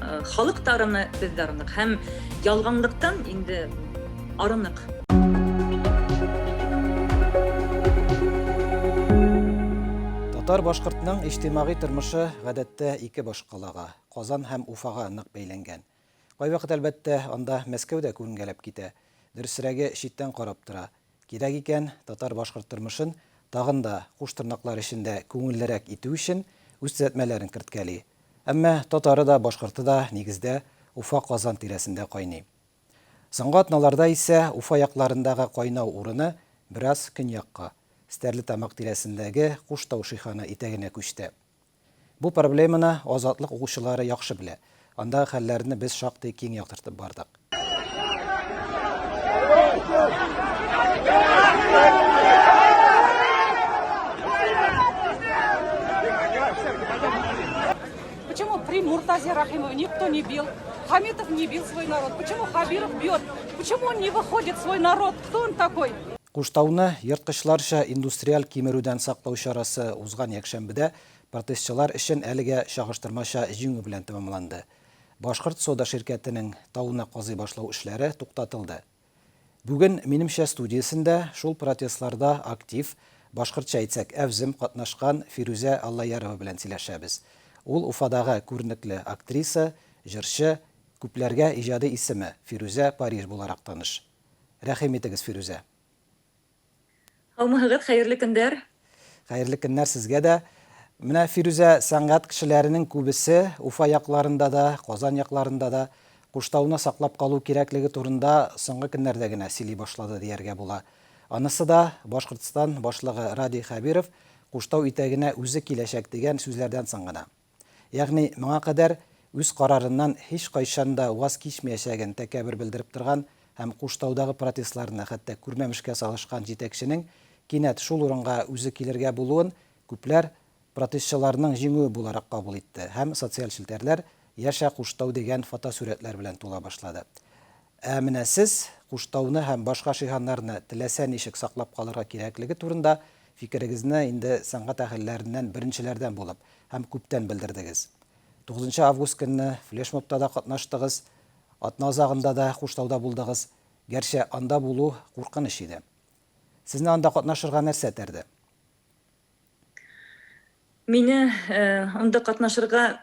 Э, халык та арыны, без дә арынык. Һәм ялганлыктан инде арынык. Татар башкортның иҗтимагый тормышы гадәттә ике башкалага, Казан һәм Уфага нык бәйләнгән. Кайвакыт әлбәттә анда Мәскәү дә күренгәләп китә. Дөресрәге читтән карап тора. Кирәк икән, татар-башкорт тормышын тагын да, куш тырнаклар эчендә, күңеллерәк итү өчен үз төзәтмәләрен керткәли. Әмма татары да, башкорты да, нигездә, Уфа, Казан тирәсендә кайный. Соңгы атналарда исә Уфа якларындагы кайнау урыны бераз көньякка, Стәрлетамак тирәсендәге Куштау шиханы итәгенә күчте. Бу проблеманы Азатлык укучылары яхшы белә. Андагы хәлләрне без шактый киң яктыртып бардык. Почему при Муртазе Рахимове никто не бил? Хамитов не бил свой народ. Почему Хабиров бьет? Почему он не выходит свой народ? Кто он такой? Куштауны ерткычларча индустриаль кимерүдән саклау чарасы узган якшәмбедә протестчылар өчен әлегә чагыштырмача җиңү белән тәмамланды. Башкорт Сода ширкәтенең тауны казый башлау эшләре туктатылды. Бүген Минемчә студиясендә шул протестларда актив, башкортча әйтсәк, әвзем катнашкан Фирүзә Аллаярова белән сөйләшәбез. Ул Уфадагы күренекле актриса, җырчы, күпләргә иҗади исеме Фирүзә Париж буларак таныш. Рәхим итегез, Фирүзә. Һаумыһыгыз, хәерле көндәр! Хәерле көннәр сезгә дә! Менә, Фирүзә, сәнгать кешеләренең күбесе Уфа якларында да, Казан якларында да Куштауны саклап калу кирәклеге турында соңгы көннәрдә генә сөйли башлады дияргә була. Анысы да Башкортстан башлыгы Радий Хәбиров Куштау итәгенә үзе киләчәк дигән сүзләрдән соң гына. ягъни моңа кадәр үз карарыннан һичкайчан да ваз кичмәячәген тәкәбер белдереп торган һәм Куштаудагы протестларны хәтта күрмәмешкә салышкан җитәкченең кинәт шул урынга үзе килергә булуын күпләр протестчыларның җиңүе буларак кабул итте һәм социаль челтәрләр Яшә Куштау дигән фотосурәтләр белән тула башлады. Ә менә сез Куштауны һәм башка шиһаннарны теләсә ничек саклап калырга кирәклеге турында фикерегезне инде сәнгать әһелләреннән беренчеләрдән булып һәм күптән белдердегез. Тугызынчы август көнне флешмобта да катнаштыгыз, атна азагында да Куштауда булдыгыз, гәрчә анда булу куркыныч иде. Сезне анда катнашырга нәрсә этәрде? Мине анда катнашырга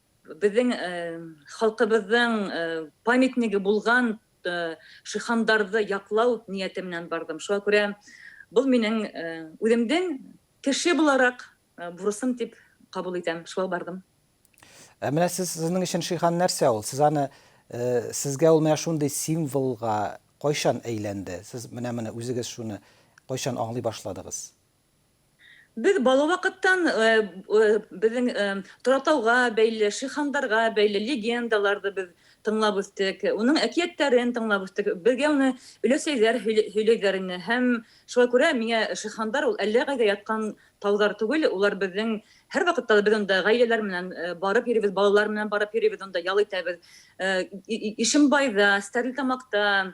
Безнең халкыбызның памятнигы булган Шихандарды яклау нияте менән бардым. Шуңа күрә бу минем үземнең кеше буларак бурычым дип кабул итәм. Шулай бардым. Ә менә сез, сезнең өчен Шихан нәрсә ул? Сез аны, сезгә ул менә шундый символга кайчан әйләнде? Сез менә-менә үзегез шуны кайчан аңлый башладыгыз? Без бала вакыттан безнең Торатауга бәйле, шихандарга бәйле легендаларды без тыңлап үстек, уның әкияттәрен тыңлап үстек. Безгә уны өләсәйләр һөйләйләр ине һәм шуңа күрә миңа шихандар ул әллә кайда яткан таулар түгел, улар безнең һәрвакытта без анда гаиләләр менән барып йөрибез, балалар менән барып йөрибез, анда ял итәбез. Ишембайда, Стәрлетамакта,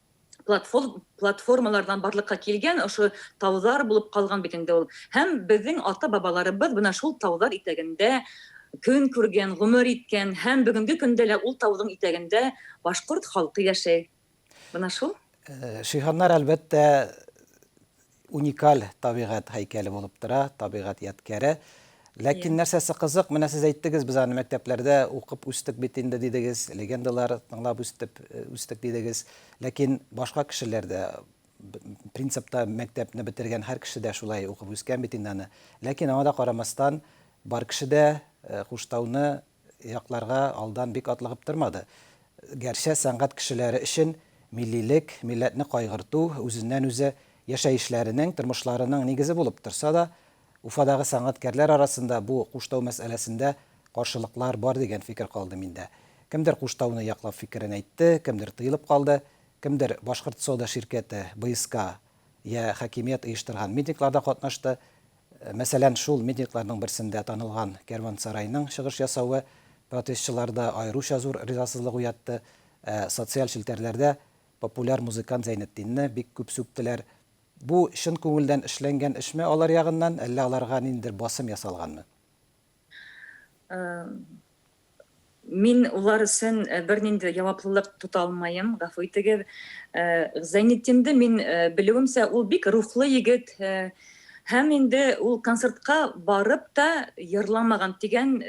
платформалардан барлыкка килгән ошо таулар булып калган бит инде ул. Һәм безнең ата-бабаларыбыз менә шул таулар итәгендә көн күргән, гомер иткән һәм бүгенге көндә лә ул таудың итәгендә башкорт халкы яшәй. Менә шул. Шиһаннар, әлбәттә, Уникаль табигать һәйкәле булып тора, табигать ядкяре. Ләкин нәрсәсе кызык, менә сез әйттегез, без аны мәктәпләрдә укып үстек бит инде, дидегез, легендалар тыңлап үстеп, э, үстек, дидегез. Ләкин башка кешеләр дә, принципта мәктәпне бетергән һәр кеше дә шулай укып үскән бит инде аны. Ләкин аңа да карамастан, бар кеше дә э, Хуштауны якларга алдан бик атлыгып тормады. Гәрчә сәнгать кешеләре өчен миллилек, милләтне кайгырту, үзеннән-үзе яшәешләренең, тормышларының нигезе булып торса да, Уфадагы сәнгатькәрләр арасында бу Куштау мәсьәләсендә каршылыклар бар дигән фикер калды миндә. Кемдер Куштауны яклап фикерен әйтте, кемдер тыелып калды, кемдер Башкортсода ширкәте, БСК, йә хакимият оештырган митингларда катнашты. Мәсәлән, шул митингларның берсендә танылган кәрвансарайның чыгыш ясавы протестчыларда аеруча зур ризасызлык уятты, ә социаль челтәрләрдә популяр музыкант Зәйнетдинне бик күп сүктеләр. Бу чын күңелдән эшләнгән эшме алар ягыннан, әллә аларга ниндидер басым ясалганмы? Мин улар өчен бернинди җаваплылык тота алмаем, гафу итегез. Зәйнетдинды мин белүемчә, ул бик рухлы егет һәм инде ул концертка барып та йырламаган дигән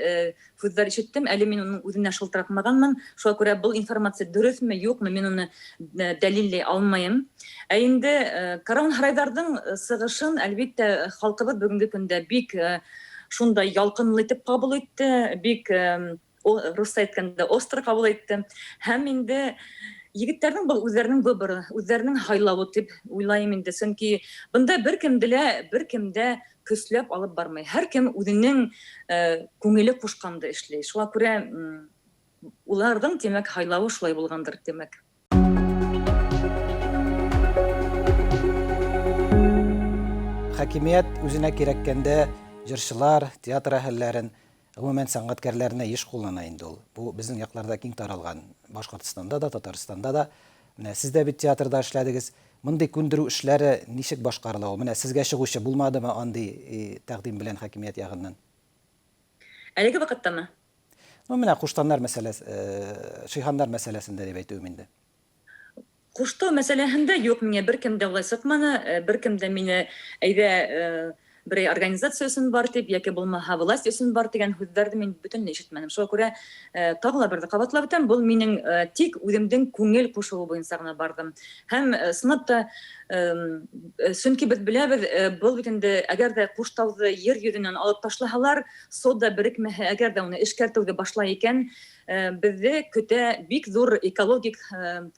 сүзләр ишеттем. Әле мин аның үзенә шылтыратмаганмын, шуңа күрә бу информация дөресме, юкмы, мин аны дәлилли алмаем. Ә инде Караун Һарайдардың сыгышын, әлбиттә, халкыбыз бүгенге көндә бик шундай ялкынлы итеп кабул итте, бик русча әйткәндә остро кабул итте. Һәм инде егетләрнең бу үзләренең выборы, үзләренең һайлавы дип уйлаем инде, чөнки бында беркем дә, беркем дә көчләп алып бармый. Һәркем үзенең күңеле кушканды эшли. Шуңа күрә уларның, димәк, һайлавы шулай булгандыр, димәк. хакимият үзенә кирәккәндә җырчылар, театр әһелләрен, гомумән сәнгатькәрләрне еш куллана инде ул. Бу безнең якларда киң таралган, Башкортстанда да, Татарстанда да. Менә сез дә бит театрда эшләдегез. Мондый күндерү эшләре ничек башкарыла ул? Менә сезгә чыгучы булмадымы андый тәкъдим белән хакимият ягыннан? Әлеге вакыттамы? Ну, менә куштаннар мәсьәләс, э, шиһаннар мәсьәләсендә дип әйтүем инде. Куштау мәсьәләһендә юк, миңа беркем дә болай сукманы, э, беркем дә мине әйдә, э, берәй организация өчен бар дип, яки булмаһа власть өчен бар дигән һүзләрне мин бөтенләй ишетмәдем. Шуңа күрә, э, тагы ла бер дә кабатлап үтәм, бу минем, э, тик үземдең күңел кушуы буенча гына бардым. Һәм, э, сынап та, Чөнки без беләбез, был бит инде әгәр дә Куштауды йер йөзеннән алып ташлаһалар, сода берекмәһә, әгәр дә уны эшкәртүде башлай икән, безне көтә бик зур экологик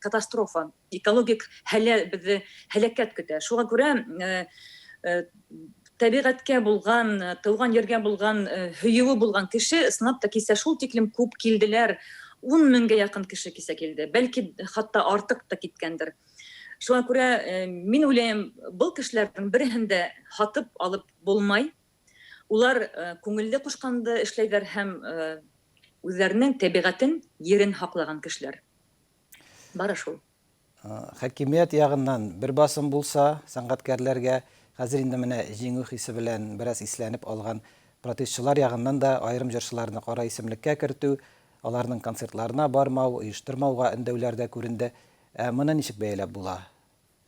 катастрофа, экологик һәлә, безне һәлакәт көтә. Шуңа күрә табигатькә булган, туган йиргә булган һөюе булган кеше снап та кисә шул тиклем күп килделәр, ун меңгә якын кеше кисә килде, бәлки хатта артык та киткәндер. Шуңа күрә мин уйлыйм, был кешеләрнең береһен дә һатып алып булмай. Улар күңелле кушканды эшләйләр һәм үзләренең тәбигатен, йирен һаклаган кешеләр. Бары шул. Хакимият ягыннан бер басым булса, сәнгатькәрләргә, хәзер инде менә җиңү хисе белән бераз исләнеп алган протестчылар ягыннан да аерым җырчыларны кара исемлеккә кертү, аларның концертларына бармау, оештырмауга өндәүләр дә күренде. Ә моны ничек бәяләп була?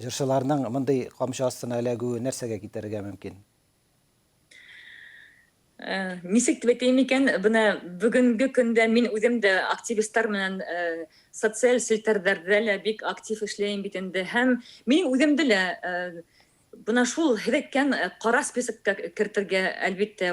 Җырчыларның мондый камчы астына эләгүе нәрсәгә китерергә мөмкин? Ничек дип әйтәем икән, менә бүгенге көндә мин үзем дә активистлар менән социаль челтәрләрдә лә бик актив эшләйм бит инде һәм мин үземне дә менә шул һеләккән кара списокка кертергә, әлбиттә,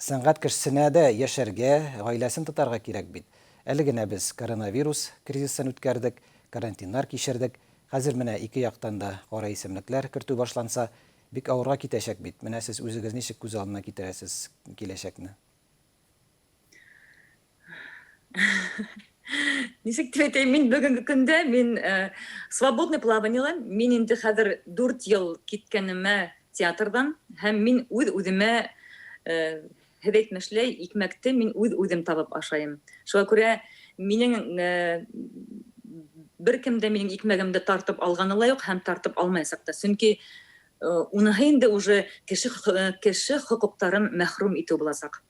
Сәнгать кешесенә дә яшәргә, гаиләсен тотарга кирәк бит. Әле генә без коронавирус кризисын үткәрдек, карантиннар кичердек. Хәзер менә ике яктан да кара исемлекләр кертү башланса, бик авырга китәчәк бит. Менә сез үзегез ничек күз алдына китерәсез киләчәкне? Ничек дип әйтәйем, мин бүгенге көндә мин э, свободный плаваниеле, мин инде хәзер дүрт ел киткәнемә театрдан һәм мин үз үземә э, һез әйтмешли икмәкте мин үз үзем табып ашайым. Шуңа күрә минең э, бер кем дә минем икмәгемде тартып алганы ла юк һәм тартып алмаячак та. Чөнки э, уныһы инде уже кеше хо- э, кеше хокуктарын мәхрүм итү булачак.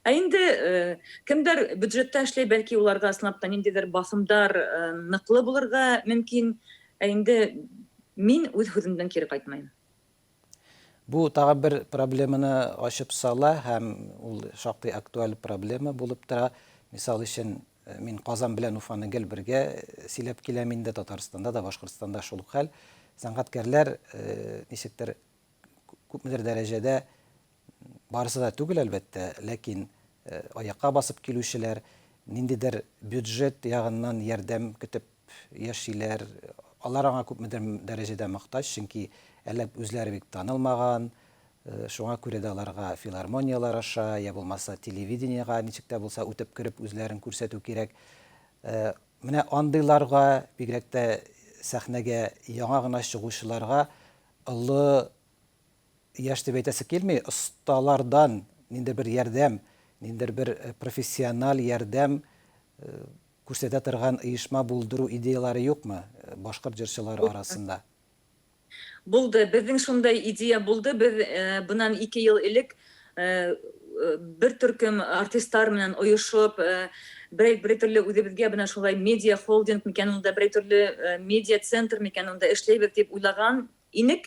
Ә инде кемдер бюджетта эшли, бәлки уларга ысынлап та ниндидер басымдар ныклы булырга мөмкин. Ә инде мин үз һүземдән кире кайтмыйм. Бу тагын бер проблеманы ачып сала һәм ул шактый актуаль проблема булып тора. Мисал өчен, мин Казан белән Уфаны гел бергә сөйләп киләм инде, Татарстанда да, Башкортстанда шул ук хәл. Сәнгатькәрләр ничектер күпмедер дәрәҗәдә, барысы да түгел, әлбәттә, ләкин аякка басып килүчеләр, ниндидер бюджет ягыннан ярдәм көтеп яшиләр. Алар аңа күпмедер дәрәҗәдә мохтаҗ, чөнки әле үзләре бик танылмаган, шуңа күрә дә аларга филармонияләр аша, йә булмаса телевидениегә ничек тә булса үтеп кереп үзләрен күрсәтү кирәк. Менә андыйларга, бигрәк тә сәхнәгә яңа гына чыгучыларга Олы яшь дип әйтәсе килми, осталардан ниндидер бер ярдәм, ниндидер бер профессиональ ярдәм күрсәтә торган оешма булдыру идеяләре юкмы башкорт җырчылары арасында? Булды. Безнең шундай идея булды. Без бунан ике ел элек бер төркем артистлар белән оешып, берәй төрле үзебезгә менә шулай медиа-холдинг микән ул да, берәй төрле медиа-центр микән ул да эшләйбез дип уйлаган инек.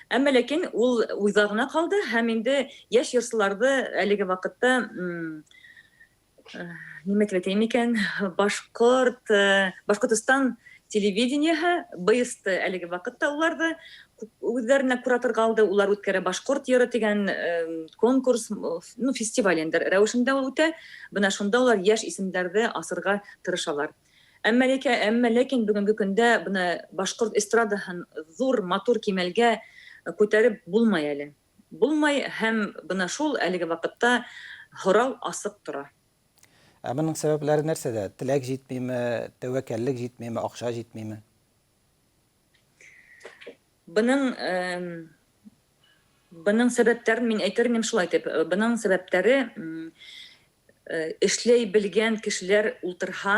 Әмма ләкин ул уйда гына калды һәм инде яшь йырчыларны әлеге вакытта Нимәтеп әйтәйем икән, башкорт, Башкортостан телевидениеһы, БСТ әлеге вакытта уларды үзләренә кураторга алды, улар үткәрә башкорт йыры дигән конкурс, ну, фестиваль инде рәвешендә ул үтә. Менә шунда улар яшь исемнәрне асырга тырышалар. Әмма ләкин, әмма ләкин бүгенге көндә менә башкорт эстрадаһын зур, матур кимәлгә күтәреп булмый әле. Булмай һәм бына шул әлеге вакытта һорау асык тора. Ә моның сәбәпләре нәрсәдә? Теләк җитмиме, тәвәкәллек җитмиме, акча җитмиме? Бының, бының сәбәпләрен мин әйтер идем шулай дип, бының сәбәпләре, эшләй белгән кешеләр ултырһа,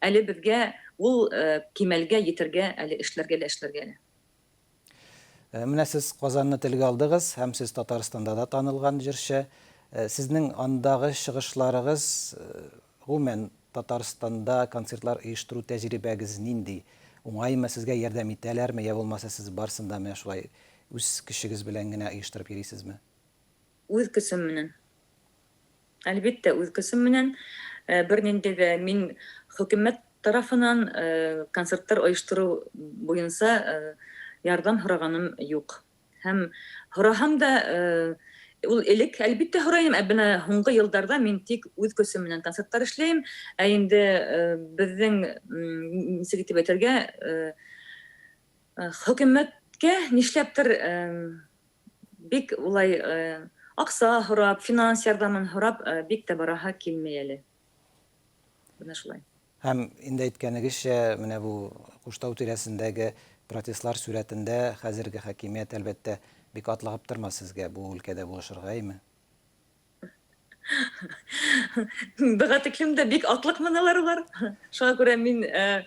Әле безгә ул кимәлгә йетергә әле, эшләргә лә эшләргә әле. Менә сез Казанны телгә алдыгыз һәм сез Татарстанда да танылган җырчы. Сезнең андагы чыгышларыгыз, гомумән, Татарстанда концертлар оештыру тәҗрибәгез нинди? Уңаймы, сезгә ярдәм итәләрме, йә булмаса сез барсын да менә шулай үз көчегез белән генә оештырып йөрисезме? Үз көчем менән. Әлбиттә, үз көчем менән. Бернинди дә мин хөкүмәт тарафынан концертлар оештыру буенча ярдәм сораганым юк. Һәм сораһам да, ул элек, әлбиттә, сорыйм, ә менә соңгы елларда мин тик үз көчем менән концертлар эшлим. Ә инде безнең, ничек итеп әйтергә, хөкүмәткә нишләптер Бик улай акча һорап, финанс ярдәмен һорап бик тә бараһы килми әле. Менә шулай. Һәм инде әйткәнегезчә, менә бу Куштау тирәсендәге протестлар сүрәтендә хәзерге хакимият, әлбәттә, бик атлыгып тормас сезгә бу өлкәдә булышырга, әйме? Быга тиклем дә бик атлыкмын алар улар. Шуңа күрә мин э,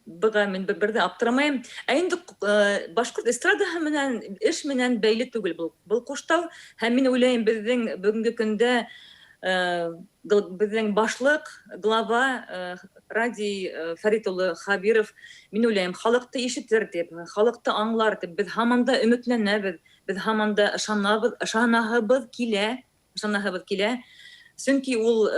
быга мин бер дә аптырамаем. Ә инде э, башкорт эстрадаһы менән эш менән бәйле түгел бу. Бу куштау һәм мин уйлыйм безнең бүгенге көндә э, безнең башлык, глава э, Радий э, Фәрит улы Хабиров, мин уйлыйм, халыкты ишетер дип, халыкты аңлар дип, без һаман да өметләнәбез. Без һаман да ышанабыз, ышанаһыбыз килә, ышанаһыбыз килә. Чөнки ул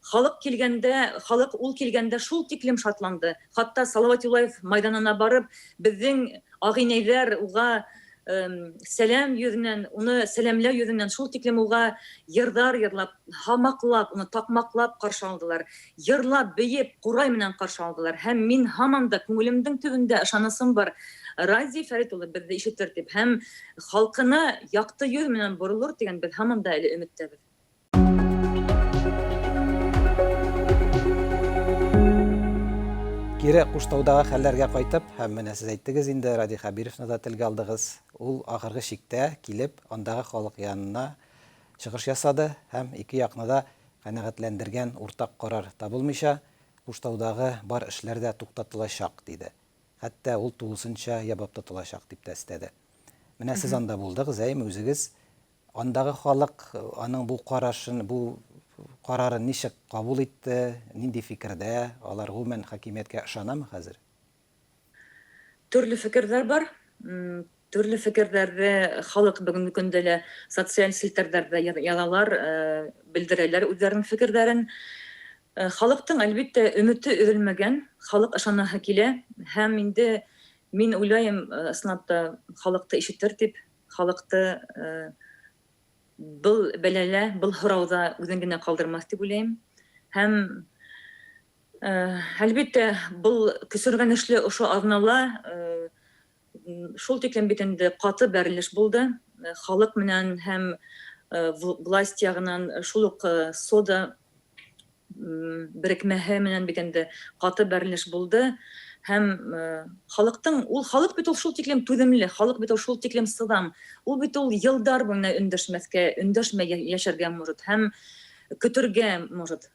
халык килгәндә, халык ул килгәндә шул тиклем шатланды, хатта Салават Юлаев майданына барып, безнең агыйнәйләр уга сәлам йөзеннән, уны сәламләү йөзеннән шул тиклем уга йырдар йырлап, һамаклап, уны такмаклап каршы алдылар. Йырлап, биеп, курай менән каршы алдылар. Һәм мин һаман да, күңелемдең төбендә ышанысым бар, Радий Фәрит улы безне ишетер дип һәм халкына якты йөз менән борылыр дигән без һаман да әле өметтәбез. Кире Куштаудагы хәлләргә кайтып, һәм менә сез әйттегез инде, Радий Хәбировны да телгә алдыгыз. Ул ахыргы чиктә килеп, андагы халык янына чыгыш ясады һәм ике якны да Канәгатьләндергән уртак карар табылмыйча, Куштаудагы бар эшләр дә туктатылачак, диде. Хәтта ул тулысынча ябып тотылачак, дип тә өстәде. Менә сез анда булдыгыз, әйеме, үзегез андагы халык аның бу карашын, бу карарын ничек кабул итте, нинди фикердә, алар гомумән хакимияткә ышанамы хәзер? Төрле фикерләр бар. Төрле фикерләрне халык бүгенге көндә лә социаль челтәрләрдә язалар, белдерәләр үзләренең фикерләрен. Халыктың, әлбиттә, өмете өзелмәгән, халык ышанаһы килә һәм инде мин уйлаем, Снап та халыкты ишетер дип, халыкты был бәлалә, был һорауда үзен генә калдырмас дип уйлыйм һәм Әлбиттә, был көсергәнешле ошо азнала шул тиклем бит инде каты бәрелеш булды, халык менән һәм власть ягыннан шул ук СОДА берекмәһе менән бит инде каты бәрелеш булды һәм халыктың, ул халык бит ул шул тиклем түземле, халык бит ул шул тиклем сызам, ул бит ул елдар буена өндәшмәскә, өндәшмәй яшәргә может һәм көтергә может.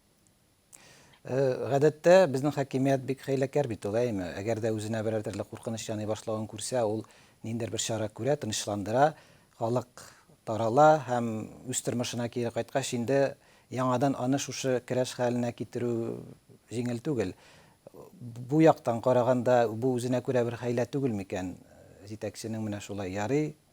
Гадәттә, безнең хакимият бик хәйләкәр бит ул, әйеме? Әгәр дә үзенә берәр төрле куркыныч яный башлавын күрсә, ул ниндидер бер чара күрә, тынычландыра, халык тарала һәм үз тормышына кире кайткач, инде яңадан аны шушы керәш хәленә китерү җиңел түгел. Бу яктан караганда, бу үзенә күрә бер хәйлә түгел микән? Җитәкченең менә шулай ярый,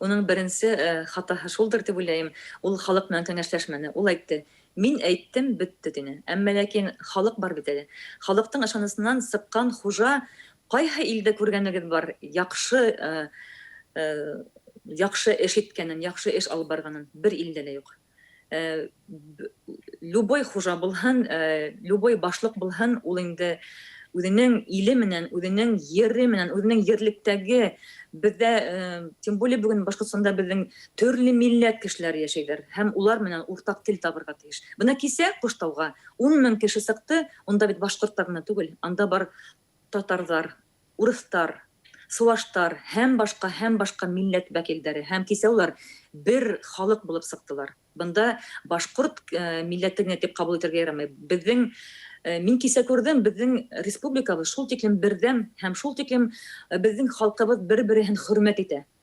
Уның беренче хатаһы шулдыр дип уйлайм, ул халык белән кәңәшләшмәде. Ул әйтте, Мин әйттем, бетте, дине. Әмма ләкин халык бар бит әле. Халыктың ышанысыннан сыккан хужа Кайһы илдә күргәнегез бар яхшы яхшы эш иткәнен, яхшы эш алып барганын? Бер илдә дә юк. любой хужа булһын, любой башлык булһын, ул инде үзенең иле менән, үзенең йере менән, үзенең йерлектәге, бездә, тем более бүген Башкортстанда безнең төрле милләт кешеләр яшәйләр, һәм улар менән уртак тел табырга тиеш. Менә кисә Куштауга ун мең кеше сыкты, унда бит башкорт та гына түгел, анда бар татарлар, урыстар, суваштар һәм башка һәм башка милләт вәкилдәре һәм кисәулар бер халык булып сыктылар. Бында башкорт милләте генә дип кабул итәргә ярамый. Безнең, мин кисә күрдем, безнең республикабыз шул тиклем бердәм һәм шул тиклем безнең халкыбыз бер-береһен хөрмәт итә.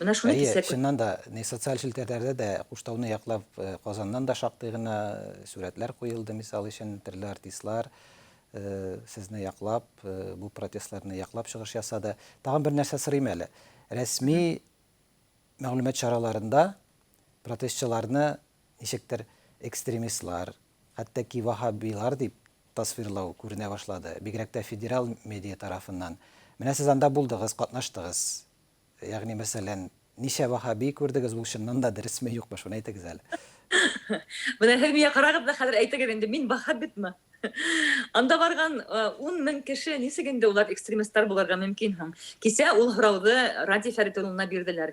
Менә шуны Әйе, кисәк. чыннан да, не социаль челтәрләрдә дә Куштауны яклап э, Казаннан да шактый гына э, сурәтләр куелды, мисал өчен, төрле артистлар э, сезне яклап, э, бу протестларны яклап чыгыш ясады. Тагын бер нәрсә сорыйм әле. Рәсми мәгълүмат чараларында протестчыларны Ничектер экстремистлар, хәтта ки ваһһабилар дип тасвирлау күренә башлады, бигрәк тә федераль медиа тарафыннан. Менә сез анда булдыгыз, катнаштыгыз. Ягъни, мәсәлән, ничә ваһһаби күрдегез, ул чыннан да дөресме, юкмы, шуны әйтегез әле. Менә һез миңа карагыз да хәзер әйтегез инде, мин ваһһабитмы? Анда барган ун мең кеше ничек инде улар экстремистлар булырга мөмкин һуң? Кичә ул һорауды Радий Фәрит улына бирделәр.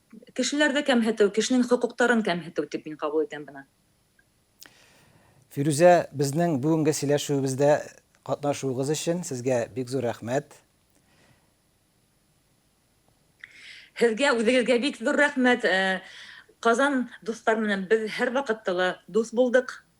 Кешеләрдә кәмһетү, кешенең хокуктарын кәмһетү дип мин кабул итәм моны. Фирүзә, безнең бүгенге сөйләшүебездә катнашуыгыз өчен сезгә бик зур рәхмәт. Һезгә үзегезгә бик зур рәхмәт. Казан дуслар менән без һәрвакытта ла дус булдык.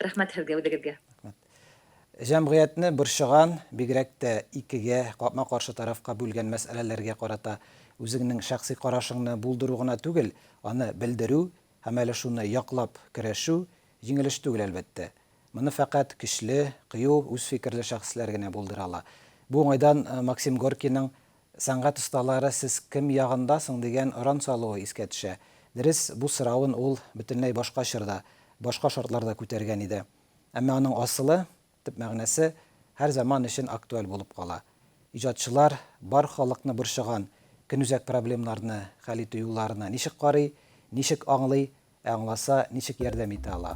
Рәхмәт һезгә, үзегезгә. Рәхмәт. Җәмгыятьне борчыган, бигрәк тә икегә, капма-каршы тарафка бүлгән мәсьәләләргә карата үзеңнең шәхси карашыңны булдыру гына түгел, аны белдерү һәм әле шуны яклап көрәшү җиңел эш түгел, әлбәттә. Моны фәкать көчле, кыю, үз фикерле шәхесләр генә булдыра ала. Бу уңайдан Максим Горькийның Сәнгать осталары сез кем ягында соң дигән оран салуы искә төшә. Дөрес, бу соравын ул бөтенләй башка чорда, башка шартларда күтәргән иде. Әмма аның асылы, төп мәгънәсе һәр заман өчен актуаль булып кала. Иҗатчылар бар халыкны борчыган көнүзәк проблемнарны хәл итү юлларына ничек карый, ничек аңлый, Ә аңласа, ничек ярдәм итә ала?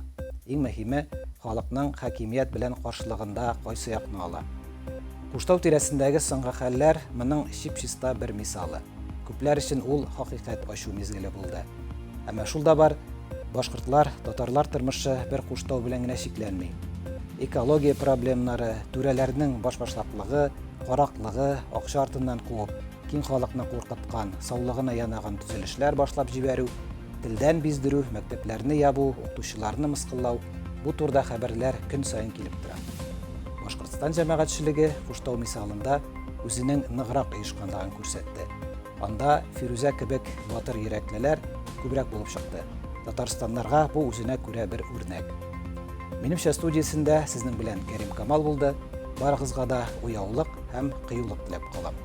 Иң мөһиме, халыкның хакимият белән каршылыгында кайсы якны ала? Куштау тирәсендәге соңгы хәлләр моның чип-чиста бер мисалы. Күпләр өчен ул хакыйкать ачу мизгеле булды. Әмма шул да бар, башкортлар, татарлар тормышы бер Куштау белән генә чикләнми. Экология проблемнары, түрәләрнең башбашлаклыгы, караклыгы, акча артыннан куып, киң халыкны куркыткан, саулыгына янаган төзелешләр башлап җибәрү, Телдән биздерү, мәктәпләрне ябу, укытучыларны мыскыллау, бу турда хәбәрләр көн саен килеп тора. Башкортстан җәмәгатьчелеге Куштау мисалында үзенең ныграк оешканлыгын күрсәтте. Анда Фирүзә кебек батыр йөрәклеләр күбрәк булып чыкты. Татарстаннарга бу үзенә күрә бер үрнәк. Минемчә студиясендә сезнең белән Кәрим Камал булды. Барыгызга да уяулык һәм кыюлык теләп калам.